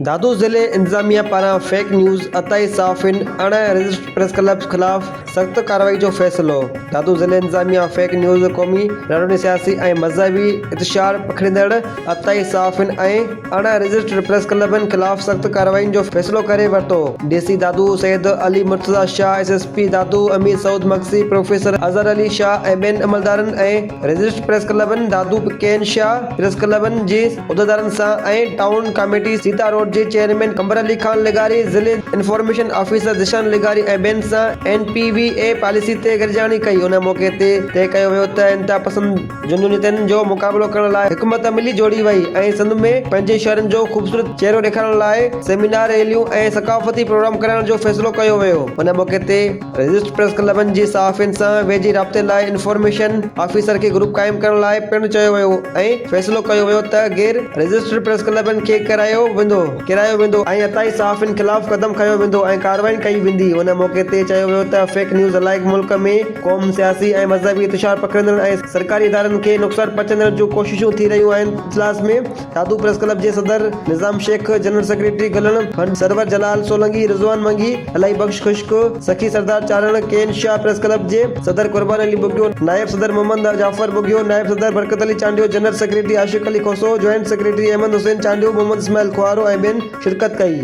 دادو ضلعي انتظاميا پاران فيڪ نيوز، عطائي صحافين اڻ رجسٽرڊ پريس ڪلب خلاف سخت ڪارروائي جو فيصلو، دادو ضلعي انتظاميا فيڪ نيوز، قومي رڙن، سياسي ۽ مذهبي اتشاهه پکيڙيندڙ عطائي صحافين ۽ اڻ رجسٽرڊ پريس ڪلبن خلاف سخت ڪارروائين جو فيصلو ڪري ورتو، D C Dadu Syed Ali Murtaza Shah, S S P Dadu Amir Saud Magsi, professor Azhar Ali Shah ۽ ٻين عملدارن ۽ رجسٽرڊ پريس ڪلبن دادو ڪين شاهه پريس ڪلبن جي عهديدارن سان ۽ ٽائون ڪاميٽي سيتا روڊ جي چيئرمين قمبر علي خان لغاري، ضلعي انفارميشن آفيسر ذيشان لغاري ۽ ٻين سان N P V A policy تي گڏجاڻي ڪئي، ان موقعي تي طئي ڪيو ويو ته انتهاپسند جنونيتن جو مقابلو ڪرڻ لاء حڪومت عملي جوڙي وئي ۽ سنڌ ۾ پنهنجي شهرن جو خوبصورت چهرو ڏيکارڻ لاء سيمينار، ريليون ۽ ثقافتي پروگرام ڪرائڻ جو فيصلو ڪيو ويو، ان موقعي تي. رجسٽرڊ پريس ڪلبن جي صحافين سان ويجهي رابطي لاء انفارميشن آفيسر کي گروپ قائم ڪرڻ لاء پڻ چيو ويو ۽ فيصلو ڪيو ويو ته غير رجسٽرڊ پريس ڪلبن کي ڪيرايو ويندو ڪيرايو ويندو ۽ عطائي صحافين خلاف قدم کنيو ويندو ۽ ڪارروائي ڪئي ويندي ان موقعي تي چيو ويو ته فيڪ نيوز علائق ملڪ ۾ قوم سياسي ۽ مذهبي انتشار پکڙيندڙ ۽ سرڪاري ادارن کي نقصان پهچائندڙ جون ڪوششون ٿي رهيون آهن اجلاس ۾ دادو پريس ڪلب جي صدر Nizam Shaikh, general secretary Gullan Bhand, Sarwar Jalal Solangi, Rizwan Mangi, Elahi Bux Khushk, Sakhi Sardar Charan, Kain Shah press club جي صدر قربان علي ٻگهيو، نائب صدر محمد جعفر ٻگهيو، نائب صدر Barkat Ali Chandio, general secretary Ashiq Ali Khoso, joint secretary Ahmed Hussain Chandio, Muhammad Ismail Koharo ۽ ٻين شرڪت ڪئي.